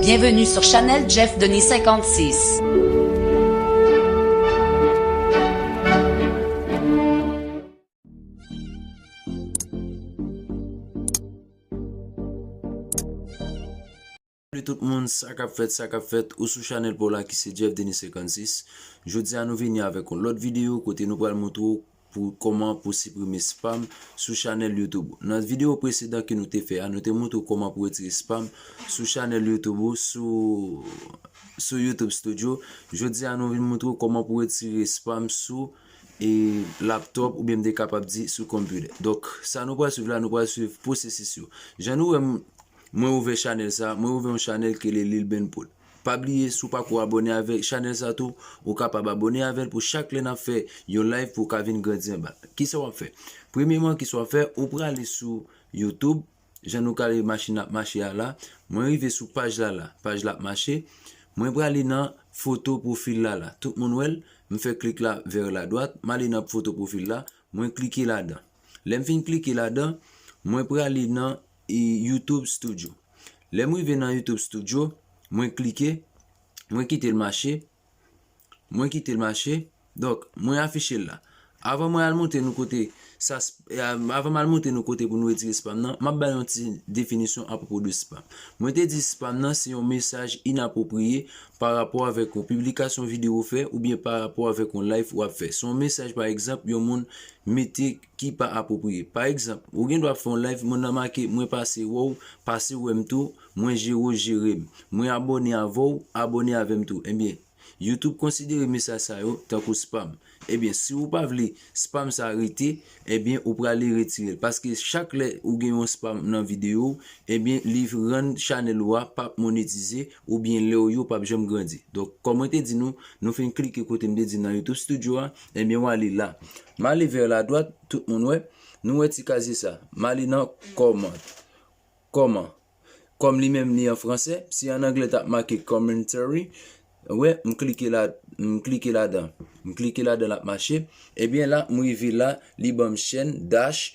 Bienvenue sur Chanel Jeff Denis 56. Salut tout moun, sa kap fèt, sa kap fèt, ou sou chanèl pou la ki se Jeff Denis 56 Jodi a nou vini avèk yon lòt videyo kote nou pral montre ou Pou kòman pou siprime spam sou chanèl YouTube ou. Nan videyo presedan ke nou te fè a, nou te montre w kòman pou retire spam sou chanèl YouTube ou sou sou YouTube Studio. Jodi a nou vin montre w kòman pou retire spam sou e laptop oubyen m te kapab di sou computer. Donk sa nou pral swiv la, nou pral swiv pwosesis yo. Jan nou wè m mwen ouvè chanèl sa, mwen ouvè yon chanèl ki rele Lilbenpol. Pa bliye si w pako abone avek chanel sa tou ou kapab abone avel pou chak lè nap fè yon live pou w ka vin grandi anba. Kisa wap fè? Premyeman kisa wap fè ou prale sou YouTube jan nou kale machin nan ap mache a la mwen rive sou paj la la paj la ap mache mwen prale nan foto profil la la tout moun wèl m fè klik la vèr la dwat m ale nan foto profil la mwen klike ladan lèm fin klike ladan mwen prale nan YouTube studio lèm rive nan YouTube studio mwen klike mwen kitel mache mwen kitel mache donk mwen afiche la avan mwen al monte nou kote sa avan mwen al monte nou kote pou nou retire spam nan map bay yon ti definisyon apropo de spam mwen te di spam nan se yon mesaj inapropriye pa rapo avèk yon piblikasyon videyo ou fè oubyen pa rapo avèk yon live wap fè se yon mesaj pa egzanp yon moun mete ki pa apwopriye. Pa egzanp, ou gen dwa ap fè yon live, moun nan make, mwen pase wè w, pase wè m tou, mwen jere w, jere m, mwen abòne avè w, abòne avè m tou. Ebyen, YouTube konsidere mesaj sa yo tankou spam. Ebyen, si ou pa vle spam sa rete, ebyen ou prale retire l. Paske chak lè ou gen yon spam nan videyo w, ebyen li rann chanèl ou a p ap monetize oubyen lè w yo p ap janm grandi. Donk, kòm mwen te di nou, nou fin klike kote m te di nan YouTube Studio a, Ebyen w ale la. M ale vè la dwat, tout moun wè. Nou wè ti kazye sa. M ale nan kòman. Kòman. Kòm li menm li an franse, si an angle t ap make commentary, wè, m klike la, m klike ladan. M klike ladan l ap mache. Ebyen la, m rive la, li ban m chèn, dash,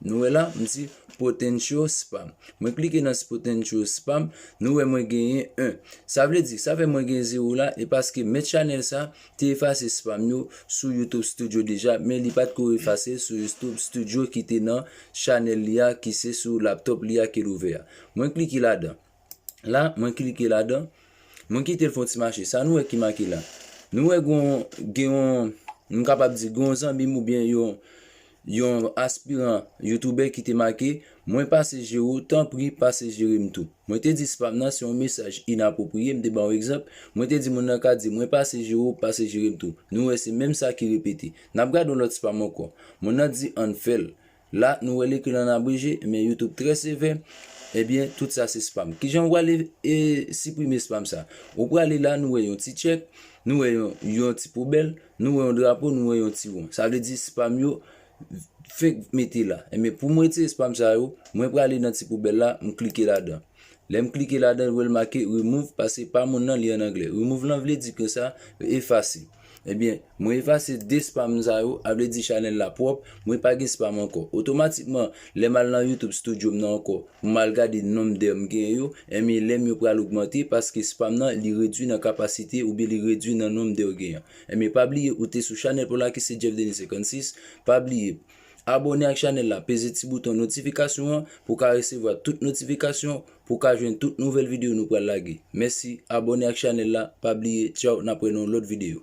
Nou wè la, m di potential spam. Mwen klike nan potential spam, nou wè mwen genyen 1. Sa vle di, sa fè mwen gen 0 la, e paske mèt chanèl sa te efase spam yo sou YouTube Studio deja, men li pat ko efase l sou YouTube Studio ki te nan chanèl li a ki se sou laptop li a ke l ouvè a. Mwen klike ladan. La, mwen klike ladan. Mwen kite l fè yon ti mache. Sa nou wè ki make la? Nou wè gen yon, m kapab di, gen yon zanmi m oubyen yon yon aspiran youtoubè ki te make, mwen pase jere w, tanpri pase jere m tou. Mwen te di spam nan se yon mesaj inapwopriye, m te ba yon egzanp, mwen te di moun nan ka di mwen pase jere w, pase jere m tou. Nou wè se menm sa ki repete. N ap gade yon lòt spam ankò. Moun nan di an n fè l. La nou wè l ekri l an abreje, men youtube trè sevè, ebyen tout sa se spam. Kijan ou prale siprime spam sa? Ou prale la nou wè yon ti tchèk, nou wè yon ti poubèl, nou wè yon drapo, nou wè yon ti won. Sa vle di spam yo fenk mete la. Ebyen pou m retire spam sa yo, mwen prale nan ti poubèl la, m klike ladan. Lè m klike ladan l wè l make remove paske pa moun nan li an anglè. Remove lan vle di konsa yo efase. Ebyen, mwen efase 2 spam sa yo, a vle di chanèl la pwòp, mwen pa gen spam ankò. Otomatikman, lè m al nan YouTube Studio m nan ankò pou m al gade nonb dè m gen yo, enben lè m yo pral ogmante paske spam nan li redwi nan kapasite oubyen li redwi nan nonb dè w gen an. Enben pa bliye ou te sou chanèl pou la ki se Jeff Denis 56, pa bliye. Abòne ak chanèl la peze ti bouton notifikasyon an pou w ka resevwa tout notifikasyon pou w ka jwenn tout nouvèl videyo nou pral lage. Mèsi, abòne ak chanèl la, pa bliye, tchaww n ap wè nan yon lòt videyo.